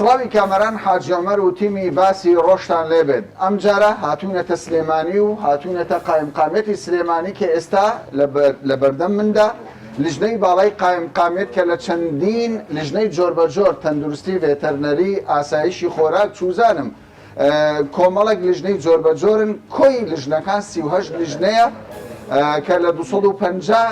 سڵاوی کامەران حاجی عومەر و تیمی باسی ڕۆژتان لێ بێت ئەمجارە هاتوونەتە سلێمانی و هاتوونەتە قایمقامیەتی سلێمانی کە ئێستا لە بەردەم مندا لیژنەی باڵای قایمقامیەت کە لە چەندین لیژنەی جۆربەجۆر تەندروستی ڤێتەرنەری ئاسایشی خۆراک چوزانم کۆمەڵێک لیژنەی جۆربەجۆرن، کۆی لیژنەکان سی و هەشت لیژنەیە کە لە دوو سەد و پەنجا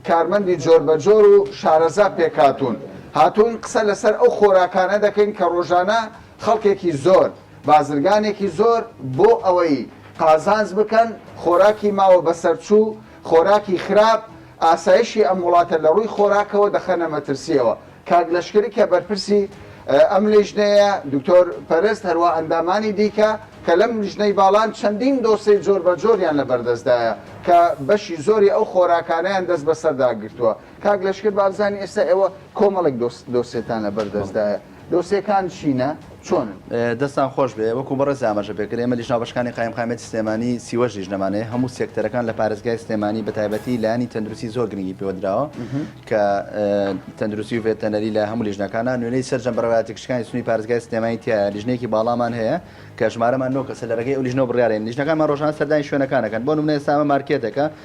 کارمەندی جۆربەجۆر و شارەزا پێکهاتوون، هاتووین قسە لەسەر ئەو خۆراکانە دەکەین کە ڕۆژانە خەڵکێکی زۆر، بازرگانێکی زۆر بۆ ئەوەی قازانج بکەن، خۆراکی ماوە بەسەرچوو، خۆراکی خراپ، ئاسایشی ئەم وڵاتە لە ڕووی خۆراکەوە دەخەنە مەترسییەوە. کاک لەشکری کە بەرپرسی ئەم لیژنەیە، دکتۆر پەرست، هەروا ئەندامانی دیکە کە لەم لیژنەی باڵان چەندین دۆسێی جۆربەجۆریان لە بەردەستدایە کە بەشی زۆری ئەو خۆراکانەیان دەست بەسەردا گرتووە. کاک لەشکر با بزانین ئێستا ئێوە کۆمەڵێک دۆسێتان لە بەردەستدایە، دۆسێکان چینە؟ چۆنن؟ دەستتان خۆش بێ وەکو بەڕێز ئاماژە پێکرد ئێمە لیژنە هاوبەشەکانی قایمقامیەتی سلێمانی سیوەش لیژنەمانەیە هەموو سێکتەرەکان لە پارێزگای سلێمانی بە تایبەتی لایەنی تەندروستی زۆر گرنگی پێوە دراوە کە تەندروستی و ڤێتەنەری لە هەموو لیژنەکانە نوێنەری سەرجەم بەڕێوەبەرایەتە گشتەکانی سنووری پارێزگای سلێمانی تیایە لیژنەیەکی باڵامان هەیە کە ژمارەمان نۆ کەسە لە رێگەی ئەو لیژنەوە بڕیارێن لیژنەکانمان ڕۆژانە سەردانی شوێنەکان دەکەن بۆ نموونە ئێستا ئەمە مارکێتێکە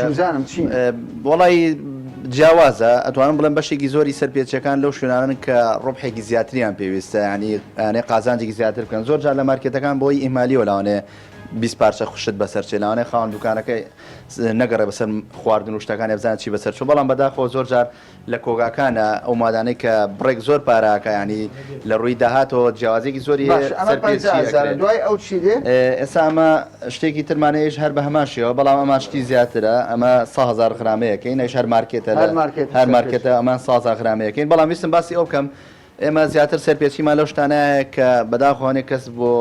چوزانم چین؟ وەڵایی جیاوازە ئەتوانم بڵێم بەشێکی زۆری سەرپێچەکان لەو شوێنانن کە ڕۆبحێکی زیاتریان پێویستە ینی یانێ قازانجێکی زیاتر بکەن زۆر جار لە مارکێتەکان بۆی ئیمالی وەلاوانێ بیست پارچە خوشت بەسەر چێلاوانێ خاوەن دوکانەکەی نەگەڕێ بەسەر خواردن و شتەکان ێبزان چی بەسەر چوو بەڵام بەداخەوە زۆر جار لە کۆگاکانە ئەو مادانەی کە بڕێک زۆر پارە ئەکا یانی لە ڕووی داهاتەوە جیاوازیەکی زۆری هەیە باش ئەمە پەنجا هەزارە دوای ئەو چی دێ؟ ئێستا ئەمە شتێکی ترمانە ئێش هەر بە هەمان شێوە بەڵام ئەمان شتی زیاترە ئەمە سە هەزار غرامەیەکەین ئەیش هەر مارکێتە هەر مارکێتە ئەمان سازا غرامەیەکەین بەڵام ویستم باسی ئەو بکەم ئێمە زیاتر سەرپێچیمان لەو شتانە هەیە کە بەداخوە هەنێک کەس بۆ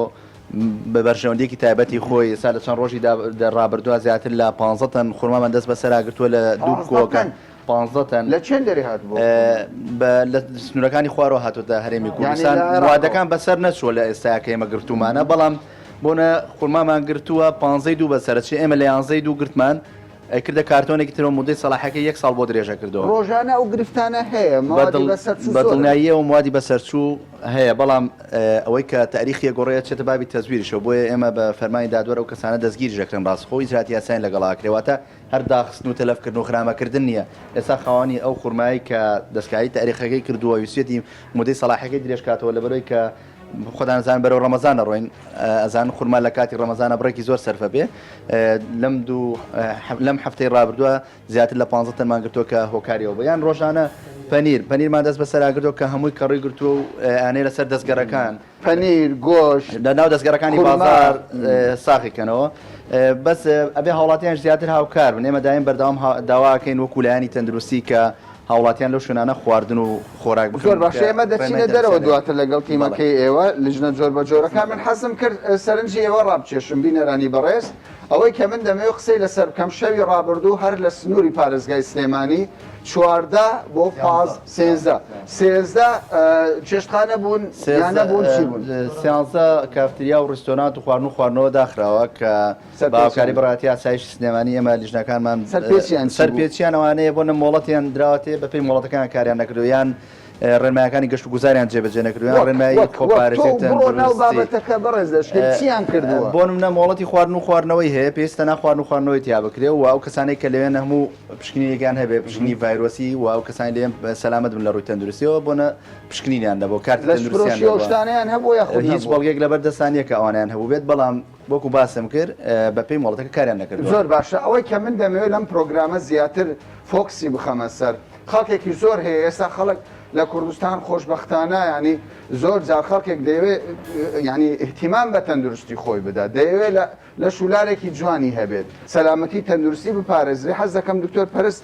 بە بەرژەوەندیەکی تایبەتی خۆی ئێستا لە چەند ڕۆژی ڕابردووە زیاتر لە پ تەن خورمامان دەست بەسەراگرتووە لە دوو کۆکان پ تەن لە چێن دەری هات لە سنوورەکانی خوارەوە هاتوتە هەرێمی کوردستان وادەکان بەسەر نەچووە لە ئێستا کە ئێمە گرتومانە بەڵام بۆنە خورمامان گرتووە پانزەی دوو بە سەرچی ئێمە لە یانزەی دوو گرتمان ئەیکردە کارتۆنێکی تر و مودەی سەڵاحیەکەی یەک ساڵ بۆ درێژە کردەوە. ڕۆژانە ئەو گرفتانە هەیە، مەوادی بەسەرچوو زۆرن. بەدڵنیاییەوە مەوادی بەسەرچوو هەیە، بەڵام ئەوەی کە تەئریخی ئەگۆڕێ ئەچێتە بابی تەزویرشەوە، بۆیە ئێمە بە فەرمانی دادوەر ئەو کەسانە دەستگیریش ئەکرێن ڕاستەخۆ و ئیجراتی یاسایان لەگەڵا ئەکرێ، واتە هەر داخستن و تەلەف کردن و خرامە کردن نییە، ئێستا خاوەنی ئەو خورمایەی کە دەستکاری تەئریخەکەی کردووە ویستویەتی مودەی سەڵاحیەکەی درێژ کاتەوە لەبەرئەوەی کە خۆتان ئەزانن بەرەو ڕەمەزان ئەڕۆین ئەزانن خورما لە کاتی ڕەمەزانە بڕێکی زۆر سەرف ئەبێ لەم دوو لەم هەفتەی ڕابردووە زیاتر لە 15 تەنمان گرتووە کە هۆکاری ئەو بە یان ڕۆژانە پەنیر پەنیرمان دەست بەسەر ئاگرتووە کە هەمووی کەڕووی گرتووە و ئەنێ لەسەر دەستگەرەکان پەنیر گۆش لە ناو دەستگەرەکانی خورما. بازار اه، ساغی کەنەوە اه، بەس اه، ئەبێ هاوڵاتیان زیاتر هاوکار بن ئێمە دایم بەردەوام ها- داواکەین وەکو لایەنی تەندروستی کە هاوڵاتیان لەو شوێنانە خواردن و خۆراک بکڕن زۆر باشە ئێمە دەچینە دەرەوە دواتر لەگەڵ تیمەکەی ئێوە لیژنە جۆر بە جۆرەکان من حەزم کرد سەرنجی ئێوە ڕابکێشم بینەرانی بەڕێز ئەوەی کە من دەمەوێت قسەی لەسەر بکەم شەوی ڕابردوو هەر لە سنووری پارێزگای سلێمانی چواردە بۆ پاز سێزدە سێزدە چێشتخانە بوون سێزدە نەبوون چی بوون سیانزە کافتریا و ڕستۆرانت و خواردن و خواردنەوە داخراوە کە بە هاوکاری بڕاتی ئاسایشی سلێمانی ئێمە لیژنەکانمان سەرپێچیان ئەوانەیە بۆ نە مۆڵەتیان دراوەتێ بە پێی مۆڵەتەکان کاریان نەکردو یان ڕێنمایەکانی گەشت و گوزاریان جێبەجێ نەکردویان ڕێنمایی بابەتەکە بەڕێز دەشتیان کردەوە بۆ منە مۆڵەتی خواردن و خواردنەوەی هەیە پێستە ناخواردن و خواردنەوەی تیا بکرێ و ئەو کەسانێک کە لەوێن هەموو پشکنینێکیان هەبێ پشکنی ڤایرۆسی و ئەو کەسانی لێم سەلامت بن لە ڕووی تەندروستیەوە بۆنە پشکنینیان دەبەوە کارت لە شتانیان هەبوو هیچ بەڵگێک لەبەر دەستانیەکە ئەوانیان هەبوو بێت بەڵام وەکو باسم کرد بە پێی مۆڵەتەکە کاریان نەکردووە. زۆر باشە ئەوەی کە من دەمەوێت لەم پرۆگرامە زیاتر فۆکسی بخەمە سەر خەڵکێکی زۆر هەیە ئێستا خەڵک لە کوردستان خۆشبەختانە یانی زۆر جار خەڵکێک دەیەوێت یانی اهتیمام بە تەندروستی خۆی بدات دەیەوێت لە شولارێکی جوانی هەبێت سەلامەتی تەندروستی بپارێزرێ حەز دەکەم دکتۆر پەرست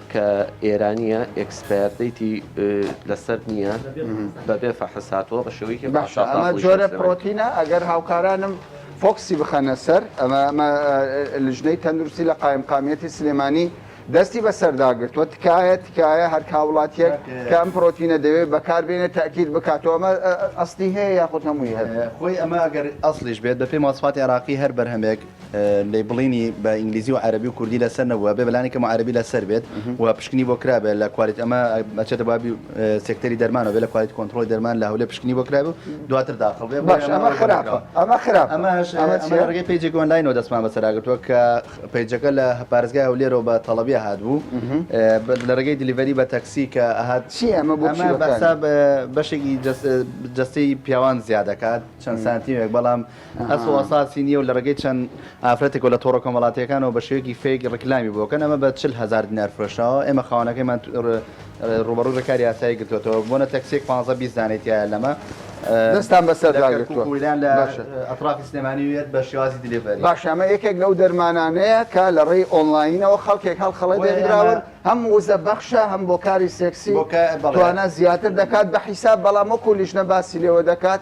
کە ئێرانیە ئێکسپایەر دەیتی لەسەر نییە بەبێ فەحس هاتووە بە شێوەیەکی باشە ئەمە جۆرە پرۆتینە ئەگەر هاوکارانم فۆکسی بخەنە سەر ئەمە ئەمە لژنەی تەندروستی لە قایم قامیەتی سلێمانی دەستی بەسەرداگرتووە تکایە تکایە هەر کاوڵاتیەک کەم پرۆتینە دەوێت بەکاربێنە تاکیت بکاتەوە ئەمە ئەستی هەیە یاخود هەمووی هەیە خۆی ئەمە ئەگەر ئەسلیش بێت بە پێی ماسفاتی عراقی هەر بەرهەمێک لەیبڵینی بە ئینگلیزی و عەرەبی و کوردی لەسەر نەبووە بێ بەلانی کەمەوە عەرەبی لەسەر بێت و پشکنی بۆ کرابێت لە کوالیت ئەمە ئەچێتە بابی سێکتەری دەرمانەوە بێ لە کوالیت کۆنترۆڵی دەرمان لە هەولێر پشکنی بۆ کرابێت و دواتر داخڵ بێت بەڵێ ئەمە خراپە ئەمە خراپ ئەمەش ئەمە چیە؟ ئەمە ڕێگەی پەیجێکی ئۆنلاینەوە دەستمان بەسەراگرتووە کە پەیجەکە لە پارێزگای هەولێرەوە بە تەڵەبیە هاتبوو لە ڕێگەی دلیڤەری بە تەکسی کە ئەهات چی ئەمە بۆ چی ئەمە بە بەکار حساب اه، بەشێکی جەس- اه، جەستەی پیاوان زیاد دەکات چەند سانتیمێک بەڵام ئەسڵ ئەساسی نییە و لە ڕێگەی چەند ئافرەتێک و لە تۆڕە کۆمەڵاتییەکانەوە بە شێوەیەکی فەیک ڕیکلامی بۆ ئەکەن، ئەمە بە چل هەزار دینار فرۆشراوە، ئێمە خاوەنەکەیمان ڕووبەڕووی ڕێکاری یاسایی گرتووەتەوە، بۆنە تەکسییەک پانزە بیست دانەی تیایە لەمە، دەستان بەسەر داگرتووە، لە کەرکووک و لەیان لە ئەتڕافی سلێمانی و یەت بە شێوازی دلیڤەری. باشە ئەمە یەکێک لەو دەرمانانەیە کە لە ڕێی ئۆنڵاینەوە خەڵکێک هەڵخەڵەت هێنراون، هەم وزە بەخشە هەم بۆ کاری سێکسی توانا زیاتر دەکات بە حیساب، بەڵام وەکوو لیژنە باسی لێوە دەکات،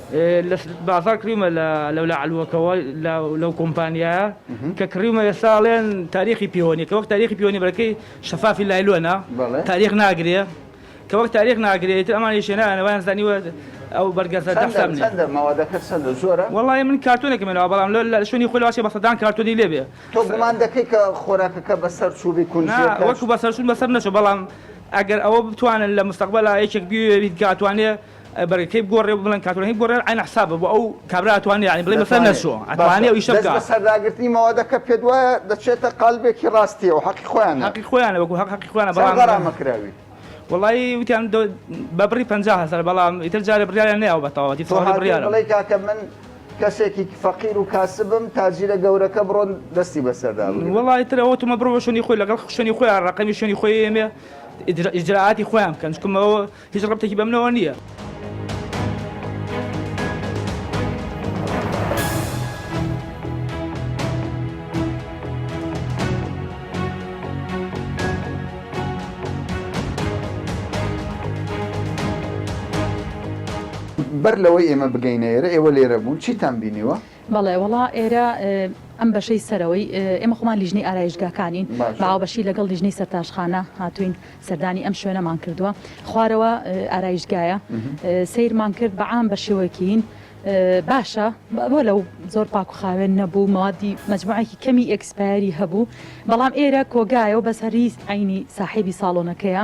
لە بازاڕ کڕیومە لە لەولا عەلوەکەوە لە لەو کۆمپانیایە کە کڕیومە ئێستا ئەڵێن تاریخی پێوەنی کە وەک تاریخی پێوەنی بەرەکەی شەفافی لایلۆنە تاریخ ناگرێ کە وەک تاریخ ناگرێت تر ئەمانی شێنانە وایان زانیوە ئەو بەرگەزە دەحساب نیە چەندە مەوادەکە چەندە زۆرە وەڵای من کارتۆنێکم هێناوە بەڵام لە لە شوێنی خۆی لەواشی بە سەدان کارتۆنی لێ بێ تۆ گومان دەکەی کە خۆراکەکە بەسەر چووبی نا کونجیەکە وەکو بەسەرچوون بەسەر نەچوو بەڵام ئەگەر ئەوە بتوانن لە مستەقبەلا یەکێک بیەوێ بیت کە ئەتوانێ برای کەی بگۆڕێ و بڵێن کاتۆلیک هەی بگۆڕێ عەین حسابە بۆ ئەو کابرا ئەتوانێ یانی بڵێ مەسەلە نەچۆ ئەتوانێ ئەو ئیشە بکا. باشە دەست بەسەرداگرتنی مەوادە کە پێت وایە دەچێتە قالبێکی ڕاستیەوە حەقی خۆیانە. حەقی خۆیانە وەکو هەق حەقی خۆیانە بەڵام. چەند غەرامە کراوی؟ وەڵایی وتیان دە بە بڕی پەنجا هەزار بەڵام ئیتر جارێ بڕیاریان نەیاوە بە تەواوەتی تەواوی بڕیارە. تۆ هاتووی بڵێی کاکە من کەسێکی فەقیر و کاسبم تاجیرە گەورەکە بڕۆن دەستی بەسەردا بگرن. وەڵایی تر ئەوە تۆمە بڕۆ شوێنی خۆی لەگەڵ شوێنی خۆیان ڕەقەمی شوێنی خۆی ئێمێ ئیجرا ئیجرائاتی خۆیان بکەن چونکە مەوە هیچ ڕەبتێکی بەمنەوە نییە. بەر لەوەی ئێمە بگەینە ئێرە ئێوە لێرە بوون چیتان بینیوە؟ بەڵێ وەڵا ئێرە ئەم بەشەی سەرەوەی ئێمە خۆمان لیژنەی ئارایشتگاکانین بە هاوبەشی لەگەڵ لیژنەی سەرتاشخانە هاتووین سەردانی ئەم شوێنەمان کردووە خوارەوە ئارایشتگایە سیرمان کرد بە عام بە شێوەکیین باشە بۆ لەو زۆر پاک و خاوێن نەبوو مادی مجموعێکی کەمی ئەکسپایری هەبوو بەڵام ئێرە کۆگایەوە بەس هەریست عینی ساحێبی ساڵۆنەکەیە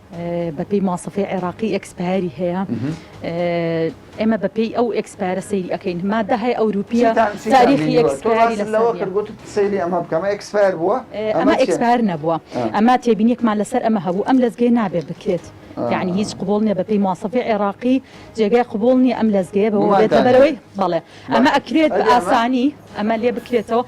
بەپێی ماسفەی عێراقی ئێکسپایەری هەیە ئێمە بەپێی ئەو ئێکسپایرە سەیری ئەەکەین مادە هەیە ئەوروپیە تاریخی ئێکسپایری لەوە کردگوت سەیری ئەمە بکەمە ئێکسپایر بووە ئەمە ئێکسپار نەبووە ئەمە تێبینێکمان لەسەر ئەمە هەبوو ئەم لەزگەی نابێ بکرێت یعنی هیچ قوبول نیە بەپی ماسەفی عێراقی جێگای قوبول نیە ئەم لەزگەیە بەەوەی بەڵێ ئەمە ئەکرێت بە ئاسانی ئەمە لێ بکرێتەوە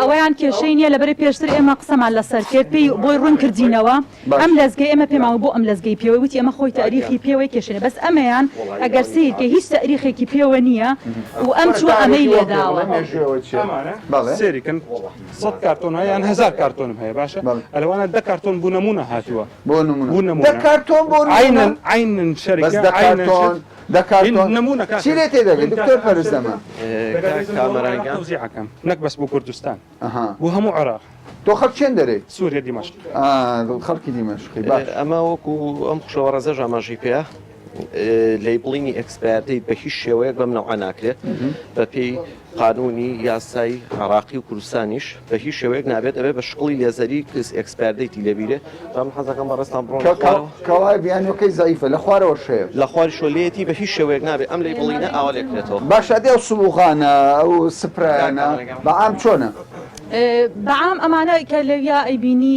ئەوەیان کێشەی نیە لەبەرەی پێشتر ئێمە قسەمان لەسەر کرد پێی بۆی ڕوون کردینەوە ئەم لەزگەی ئێمە پێماوە بۆ ئەم لەزگەی پێوەی وتی ئەمە خۆی تاریخی پێوەی کێشەێ بەس ئەمەیان ئەگەر سیر کە هیچ تاریخێکی پێوە نیە و ئەم چوە ئەمەی لێداوە سێریکن سەد کارتۆن هەیە یان هزار کارتۆنم هەیە باشە ئەلوانە دە کارتۆن بوو نمونە هاتووە بۆ نمونە کارتۆن بۆ عینن شەرکە دە کارتۆن چی لێ تێدەگەی دکتۆر پەرست دەمە. کاک کامەران گیان. تەوزیع ئەکەم نەک بەس بۆ کوردستان ئەها بۆ هەموو عێراق. تۆ خەڵک چێن دەرێی؟ سوریە دیمەشق. ئا خەڵکی دیمەشقی باش. ئەمە وەکو ئەم خوشەوەڕێزەش ئاماژەی پێیە لەیبڵینی ئێکسپایەر دەیت بە هیچ شێوەیەک بەم نەوعە ناکرێت بەپێی قانونی، یاسای، عێڕاقی و کوردستانیش بە هیچ شێوەیەک نابێت ئەبێت بە شکڵی لێزەری کز ئێکسپایەر دەیتی لێ بیرێ جا من حەزەکەم بەڕێزتان بڕۆن لە خوارەوە. کە وایە بیانوەکەی زەعیفە لە خوارەوەش هەیە. لە خواریشەوە لێیەتی بە هیچ شێوەیەک نابێت ئەم لێی بڵینە ئاوا لێ کرێتەوە. باشە ئەدی ئەو سبوغانە ئەو سپرایانە بە عام چۆنە؟ بە عام ئەمانە کە لەویا ئەیبینی.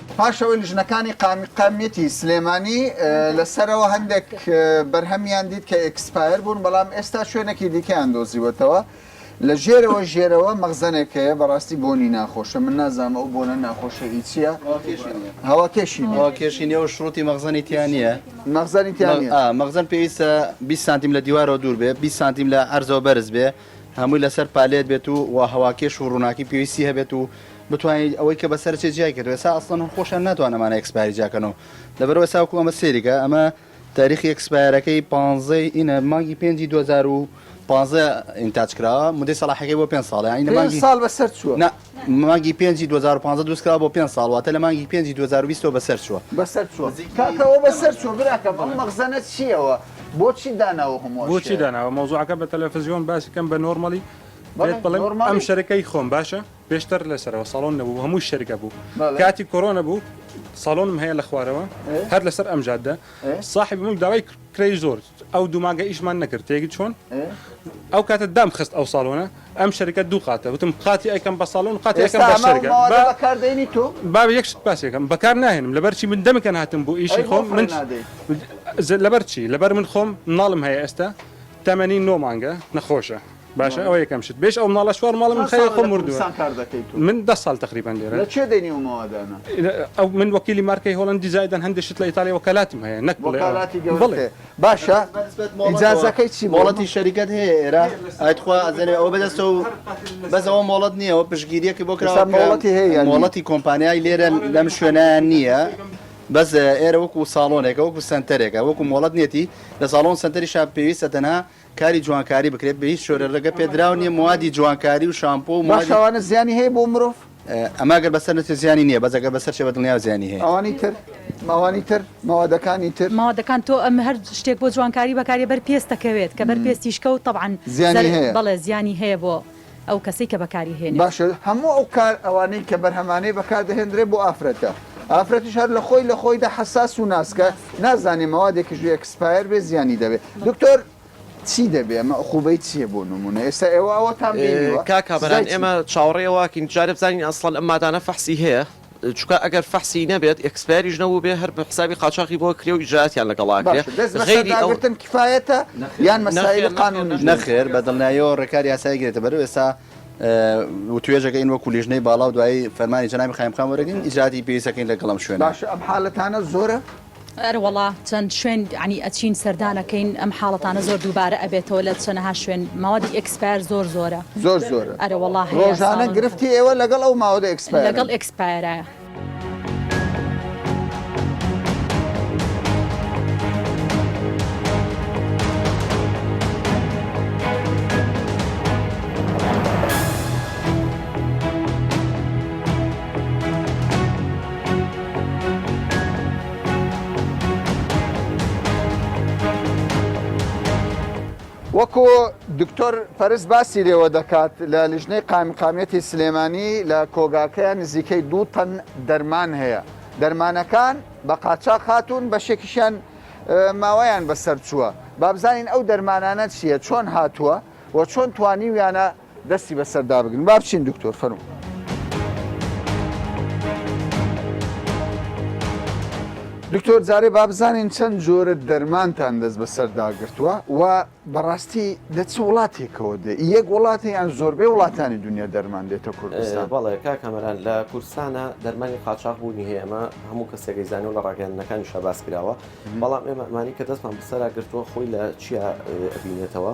پاش ئەوەی لیژنەکانی قائمیقامیەتی سلێمانی لە سەرەوە هەندێک بەرهەمیان دیت کە ئێکسپایر بوون بەڵام ئێستا شوێنێکی دیکەیان دۆزیوەتەوە لە ژێرەوە ژێرەوە مەغزەنێک هەیە بەڕاستی بۆنی ناخۆشە من نازانم ئەو بۆنە ناخۆشە ئی چییە هەوا کێشی نییە. ئەوە کێشی نییە و شڕوتی مەغزەنی تیا نییە مەغزەنی تیا مەغ- نییە. ئا، مەغزەن پێویستە 20 سانتیم لە دیوارەوە دوور بێ 20 سانتیم لە عەرزەوە بەرز بێ هەمووی لەسەر پالێت بێت و وا هەواکێش و ڕووناکی پێویستی هەبێت و بتوانیت ئەوەی کە بەسەر چێ جیای کردوە ئێستا ئەسڵەن خۆشیان ناتوان ئەمانە ئێکسپایری جیا کەن و لەبەرو ئێستا وەکو ئەمە سەیریکە ئەمە تاریخی ئێکسپایرەکەی پانزەی ئینە مانگی پێنجی دوو هەزار و پانزە ئینتاج کراوە مودەی سەڵاحەکەی بۆ پێنج ساڵە یانی لە پێنج مانگی ساڵ بەسەر چووە نا مانگی پێنجی دوو هەزار و پازدە دروست کراوە بۆ پێنج ساڵ واتە لە مانگی پێنجی دوو هەزار و بیست ەوە بەسەر چووە. بەسەر چووە کاکە ئەوە بەسەر چووە براکەم ئەم مەخزەنە چییە ئەوە بۆچی داناوە هەموو ئەو بۆچی شتەیە. داناوە مەوزوعەکە بە تەلەفزیۆن باسی کەم بە نۆرمەڵی بەڵێ پێت بڵێم نۆرماڵی. ئەم شەرەکەی خۆم باشە پێشتر لەسەرەوە ساڵۆن نەبوو هەمووی شەرکە بوو بەڵێ. کاتی کۆرۆنە بوو ساڵۆنم هەیە لە خوارەوە ئێ. هەر لەسەر ئەم جادە ئێ. ساحێبی مول داوای کرێی زۆر ئەو دوو مانگە ئیشمان نەکرد تێگەی چۆن ئەو کاتە دام خست ئەو ساڵۆنە ئەم شەرکە دوو قاتە وتم قاتی ئەیکەم بە ساڵۆن و قاتی ئەیکەم بە ئێستا شەرکە ئەمەوە با بەکاردێنی تۆ با یەک شت باس یەکەم بەکار ناهێنم لەبەر چی من دەمێکە هاتم بۆ ئیشی ئەی بۆ خۆم فڕێ من نادەی ز- لەبەر چی لەبەر من خۆم مناڵم هەیە ئێستا تەمەنی نۆ مانگە نەخۆشە باشە ئەوە یەکەم شت بێژ ئەو مناڵە چوار ماڵە من خەیە خۆم مردوە من دە ساڵ تقریبان لێرە لە چێ دێنی ئەو مەوادانە ئەو من وەکیلی مارکەی هۆڵندی زایدان هەندێک شت لە ئیتالیا وەکالاتم هەیە نەک وەکالاتی گەورەتێ باشە ئیجازەکەی چی مۆڵەتی شەریکەت هەیە ئێرە ئای تخوا ئەزەرێ ئەو بەدەستە و بەس ئەوە مۆڵەت نییە ئەوە پشگیریەکی بۆ کرا مۆڵەتی هەیە مۆڵەتی کۆمپانیای لێرە لەم شوێنیان نییە بەس ئێرە وەکو ساڵۆنێکە وەکو سنتەرێکە وەکو مۆڵەت نێتی لە ساڵۆن سنتەری شا پێویستە تەنها کاری جوانکاری بکرێت بە هیچ شۆرێ ڕێگە پێدراو نیە موادی جوانکاری و شامپۆ و موادی. باش ئەوانە زیانی هەیە بۆ مرۆڤ؟ ئەمە گەر بەسەر نەچێت زیانی نیە بەس گەر بەسەر چێت بە دڵنیاو زیانی هەیە. ئەوانی تر؟ ئەوانی تر؟ مەوادەکانی تر؟ مەوادەکان تۆ ئەم هەر شتێک بۆ جوانکاری بەکاریە بەر پێست دەکەوێت کە بەر پێستیش کەوت تەبعەن زیانی هەیە بەڵێ زیانی هەیە بۆ ئەو کەسەی کە بەکاری هێنێت. باشە هەموو ئەو کار ئەوانەی کە بەرهەمانەی بەکار دەهێندرێت بۆ ئافرەتە ئافرەتیش هەر لە خۆی لە خۆیدا حەساس و ناسکە نازانێ مەوادێکیش بێ ئێکسپایەر بێ زیانی دەبێت دکتۆر چی دەبێ ئەمە ئوقوبەی چیە بۆ نمونە ئێستا ئێوە ئەوەتان بینیوە؟ کاک کامەران ئێمە چاوەڕێی ئەوەکین جارێ بزانین ئەسڵەن ئەم مادانە فەحسی هەیە؟ چونکە ئەگەر فەحسی نەبێت ئێکسپایریش نەبووبێ هەر بە حسابی قاچاخی بۆ کرێ و ئیجرائاتیان لەگەڵا کرێ باشە دەست بەسەر غەیری ئەو داگرتن کفایەتە یان نەخێر مەسایلی نەخێر قانونیش نەخێر دەوێت؟ نەخێر بە دڵنیاییەوە ڕێکاری یاسایی گرێتە بەر و ئێستا اه، وتوێژەکە ین وەکو لیژنەی باڵا و دوایی فەرمانی جەنابی قایمقام وەرەگرین ئیجراتی پێویست ئەکەین لەگەڵ ئەم شوێنە. باشە ئەم حالەتانە زۆرە؟ ئەروەڵا چەند شوێن عنی ئەچین سەردانەکەین ئەم حاڵەتانە زۆر دووبارە ئەبێتەوە لە چەنەها شوێن ماوەتی ئێکسپایەر زۆر زۆرە زۆر زۆر ئەرەوەڵا ڕۆژانە گرفتی ئێوە لەگەڵ ئەو ماوەدە ئێکسپایەر لەگەڵ ئێکسپایەرە. وەکو دکتۆر پەرس باسی لێوە دەکات لە لیژنەی قامقامەتی سلێمانی لە کۆگاکەیە نزیکەی دوو تەن دەرمان هەیە دەرمانەکان بە قاچا خاتون بەشێکیشیان ماوەیان بەسەر چووە بابزانین ئەو دەرمانانە چییە چۆن هاتووە و چۆن توانیویانە دەستی بەسەر دابگرن با بچین دکتۆر فەرموو. دکتۆر جارێ با بزانین چەند جۆرە دەرمانتان دەست بەسەر داگرتووە و بەڕاستی لە چ وڵاتێکەوە دێ یەک وڵاتە یان زۆربەی وڵاتانی دنیا دەرمان دێتە کوردستان بەڵێ کا کامەران لە کوردستانە دەرمانی قاچاق بوونی هەیە ئەمە هەموو کەسێکی زانانی و لە ڕاگەیاندنەکانی شە باس کراوە بەڵام ئێمە ئەمانی کە دەستمان بەسەرا گرتووە خۆی لە چیا بینێتەوە.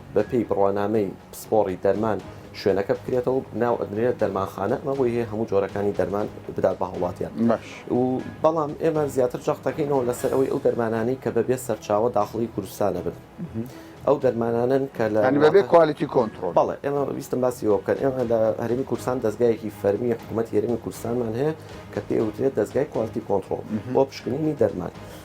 بەپێی بڕوانامەی پسپۆڕی دەرمان شوێنەکە بکرێتەوە و ناو ئەدرێت دەرمانخانە ئەمە بۆی هەیە هەموو جۆرەکانی دەرمان بدات بە هاوڵاتیان و بەڵام ئێمە زیاتر جەختەکەینەوە لەسەر ئەوەی ئەو دەرمانانی کە بەبێ سەرچاوە داخڵی کوردستانە بن ئەو دەرمانانن کە لە بەبێ کوالیتی کۆنتترۆل بەڵێ ئێمە ویستم باسی ئەوە بکەن ئێمە لە هەرمی کورسان دەستگایەکی فەرمی حکوومەت هێرمی کوردستانمان هەیە کە پێوترێت دەستگای کوالتی کۆنتترۆل بۆ پشکنینی دەرمان.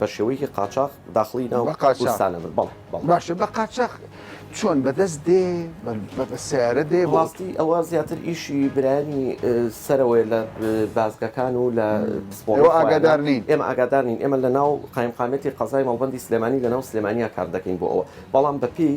بە شێوەیەکی قاچاخ داخڵی ناو بە قاچاخ. کوردستان ئەبن بەڵێ بەڵێ باشە بە قاچاخ چۆن بە دەست دێ بە بە- بە سیارە دێ بۆ ڕاستی ئەوە زیاتر ئیشی برایانی اه، سەرەوەی لە اه، بازگەکان و لە پسپۆڕی ئێوە خۆیانە. ئاگادار نین. ئێمە ئاگادار نین ئێمە لە ناو قایمقامیەتی قەزای مەڵبەندی سلێمانی لە ناو سلێمانیا کار دەکەین بۆ ئەوە بەڵام بە پێی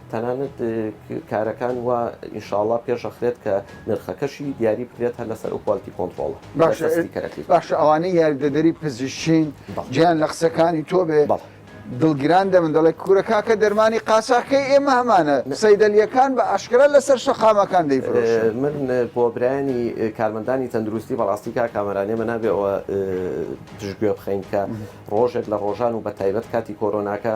تەنانەت کارەکان وا ئینشاڵا پێش ئەخرێت کە نرخەکەشی دیاری بکرێت هەر لەسەر ئەو کوالتی کۆنتڕۆڵە باشە ستیکەرەکەی. باشە ئەوانەی یاریدەدەری پزیشکین بەڵێ. جێیان لە قسەکانی تۆ بێ بەڵێ. دڵگران دەبن دەڵێ کورە کاکە دەرمانی قاچاخکەی ئێمە هەمانە سەیدەلیەکان بە ئاشکرا لەسەر شەقامەکان دەیفرۆشن. من بۆ برایانی کارمەندانی تەندروستی بەڕاستی کاک کامەران ئێمە نابێ ئەوە پشتگوێ بخەین کە ڕۆژێک لە ڕۆژان و بە تایبەت کاتی کۆرۆناکە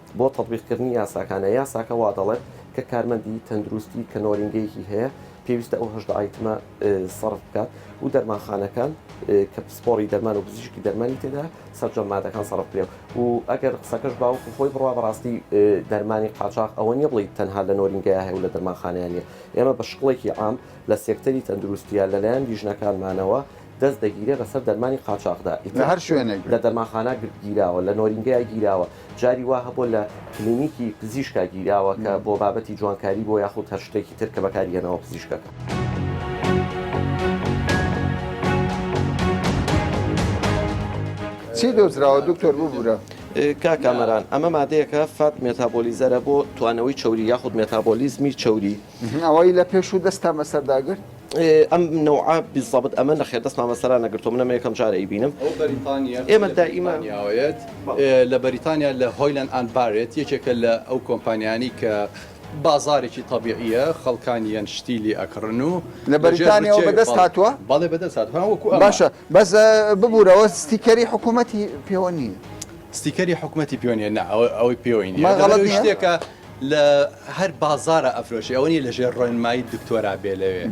بۆ تەتبیقکردنی یاساکانە، یاساکە وادەڵێت کە کارمەندی تەندروستی کە نۆرینگەیەکی هەیە پێویستە ئەو هەژدە ئایتمە سەرف بکات و دەرمانخانەکان کە پسپۆری دەرمان و پزیشکی دەرمانی تێدا سەرجەم مادەکان سەرف بکرێت و ئەگەر قسەکەش باوکو خۆی بڕوا بەڕاستی دەرمانی قاچاق ئەوە نیە بڵیت تەنها لە نۆرینگەیە هەیە و لە دەرمانخانیانە ئێمە بە شکڵێکی عام لە سێکتەری تەندروستیە لەلایەن لیژنەکانمانەوە دەست دەگیرێ بەسەر دەرمانی قاچاقدا لە هەر شوێنێک لە دەرمانخانە گیراوە لە نۆرینگەیە گیراوە جاری وا هەبووە لە کلینیکی پزیشکا گیراوە کە بۆ بابەتی جوانکاری بۆ یاخود هەر شتێکی تر کە بەکاری هێناوە پزیشکەکە. چی دۆزراوە دکتۆر ببوورە؟ کاکامەران ئەمە مادەیەکە فات مێتابۆلیزەرە بۆ توانەوەی چوری یاخود مێتابۆلیزمی چوری ئەوەی لە پێشوو دەستتان بەسەر داگرت؟ ئەم نەوعە بیزەبت ئەمە نەخێر دەستمان بەسەرا نەگرتووە من ئەمە یەکەم جارە ئەیبینم ئەو بەریتانییە ئێمە دائیما بەریتانیاوەیەت لە بەریتانیا لە هۆیلەن ئەند بارێت یەکێکە لە ئەو کۆمپانیانی کە بازارێکی تەبیعییە خەڵکانیان شتی لێ ئەکڕن و لە بەریتانیاوە بەدەست هاتووە بەڵێ بەدەست هاتووە ها وەکو ئەمە باشە بەس ببوورەوە ستیکەری حکوومەتی پێوە نییە ستیکەری حکوومەتی پێوە نییە نا ئەوە ئەوەی پێوەی نییە مەغەڵەت دەبێت نییە؟ شتێکە لە هەر بازارا ئەفرۆشی ئەوە نیە لەژێر ڕۆێنمایی دکتۆرا بێ لەوێ.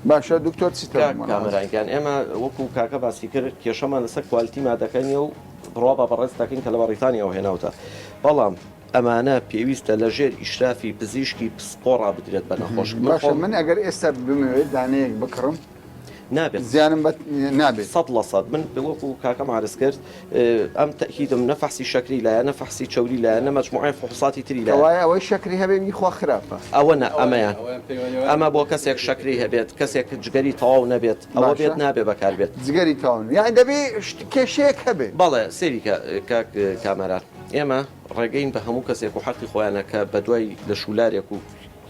باشە دکتۆر چی تر کاک کامەران گیان ئێمە وەکو کاکە باسی کرد کێشەمان لەسەر کوالیتی مادەکە نیە و بڕوا بە بەڕێز دەکەین کە لە بەڕیتانیاوە هێناوتە بەڵام ئەمانە پێویستە لەژێر ئیشرافی پزیشکی پسپۆڕا بدرێت بە نەخۆش من باشە ئەگەر ئێستا بمەوێت دانەیەک بکڕم نابێت زیانم بە نابێت سەد لە سەد من وەکو کاکەم عرز کرد ئەم تەکیدم نەفحسی شەکری لایە نەفحسی چوری لایە نە مەجموعی فحوساتی تری لە وایە ئەوەی شەکری هەبێ میخوا خراپە ئەوە نە ئەمەیان ئەمە بۆ کەسێک شەکری هەبێت کەسێک جگەری تەواو نەبێت ئەوە بێت نابێ بەکار بێت جگەری تاون یان دەبێ کێشەیەک هەبێت بەڵێ سێریکە کاک کامەران ئێمە ڕێگەین بە هەموو کەسێک و حەقی خۆیانە کە بە دوای لە شولارێک و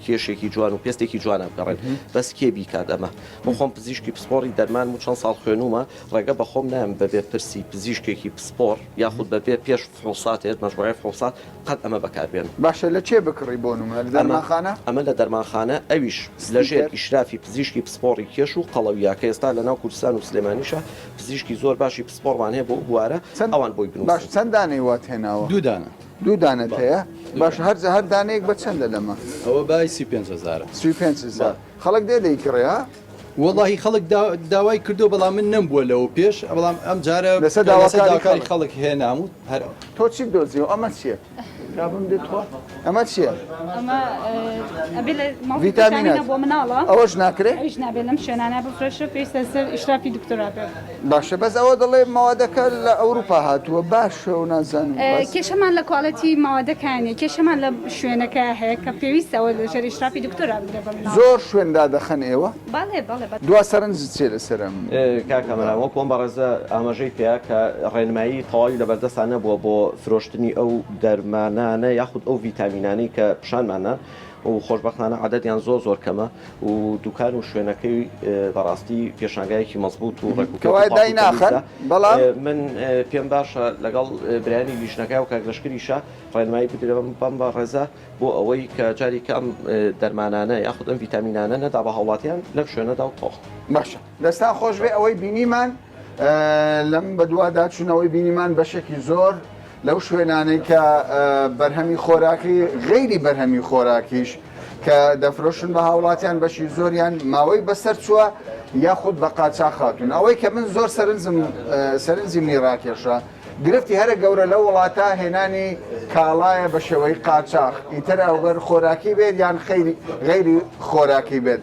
کێشێکی جوان و پێستێکی جوان ئەبگەڕێن بەس کێ بیکات ئەمە من خۆم پزیشکی پسپۆڕی دەرمانم و چەند ساڵ خوێنومە ڕێگە بەخۆم نایەم بەبێ پرسی پزیشکێکی پسپۆڕ یاخود بەبێ پێش فحوسات هێت مەجموعەی فحوسات قەت ئەمە بەکاربێنم. باشە لە کێ بکڕی بۆ نمونە لە دەرمانخانە؟ ئەمە لە دەرمانخانە ئەویش لەژێر ئیشرافی پزیشکی پسپۆڕی کێش و قەڵەویا کە ئێستا لەناو کوردستان و سلێمانیشە پزیشکی زۆر باشی پسپۆڕمان هەیە بۆ ئەو بوارە ئەوان بۆی بنوسن. باش چەند دانەی وات هێناوە؟ دوو دانە. دوو دانەت هەیە باش هەر هەر دانەیەک بە چەندە لەمە ئەوە بای سی پێ هزار سی پێ هزار خەڵک دێ دەیکڕێ ها وەڵی خەڵک داوای کردو بەڵام من نەم بووە لەوە پێش بەڵام ئەم جارە لەسەر داواکاری خەڵک هێنام و هەر تۆ چی دۆزیەوە ئەمە چیە کابم دێت خۆ ئەمە چیە ڤیتامینە بۆ مناڵە ئەوەش ناکرێت هیچ نابێت لەم شوێنانە بفرێشە پێویستە سەر ئیشرافی دکتۆرا بێت باشە بەس ئەوە دەڵێ مەوادەکە لە ئەوروپا هاتووە باشە و نازانم بەس. کێشەمان لە کواڵێتی مەوادەکە نیە کێشەمان لە شوێنەکە هەیە کە پێویستە ئەوە لە ژێر ئیشرافی دکتۆرا بدرێ بە مناڵ. زۆر شوێن دادەخەن ئێوە؟ بەڵێ بەڵێ بە. دوا سەرنجت چیە لەسەر ئەم. کاک کامەران وەکو ئەم بەڕێزە ئاماژەی پێیا کە ڕێنمایی تەواوی لەبەردەستا نەبووە بۆ فرۆشتنی ئەو دەرمانانە یاخود ئەو ڤیتامینانەی کە پیشانمان نان، و خۆشبەختانە عەدەدیان زۆر زۆر کەمە و دوکان و شوێنەکەی بەڕاستی پێشانگایەکی مەزبوط و ڕێک و پێ کەوای دای ناخەن بەڵام من پێم باشە لەگەڵ برایانی لیژنەکە و کاک لەشکریشە ڕێنمایی بدرێن بەم بە ڕێزە بۆ ئەوەی کە جاری کە ئەم دەرمانانە یاخود ئەم ڤیتامینانە نەدا بە هاوڵاتیان لەم شوێنەدا و تۆخ. باشە دەستان خۆش بێ ئەوەی بینیمان. لەم بەدوادا چوونەوەی بینیمان بەشێکی زۆر لەو شوێنانەی کە بەرهەمی خۆراکی غەیری بەرهەمی خۆراکیش کە دەفرۆشن بە هاوڵاتیان بەشی زۆریان ماوەی بەسەر چووە یاخود بە قاچا خاتون ئەوەی کە من زۆر سەرنجم سەرنجی منی ڕاکێشە گرفتی هەرە گەورە لە وڵاتە هێنانی کاڵایە بە شێوەی قاچاخ ئیتر ئەوگەر خۆراکی بێت یان غەیری خۆراکی بێت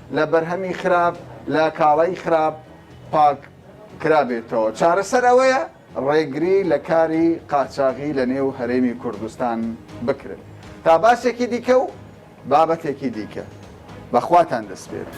لە بەرهەمی خراپ، لە کاڵای خراپ پاک کرابێتەوە، چارەسەر ئەوەیە ڕێگری لە کاری قاچاغی لە نێو هەرێمی کوردستان بکرێت. تا باسێکی دیکە و بابەتێکی دیکە. بە خواتان دەسپێرم.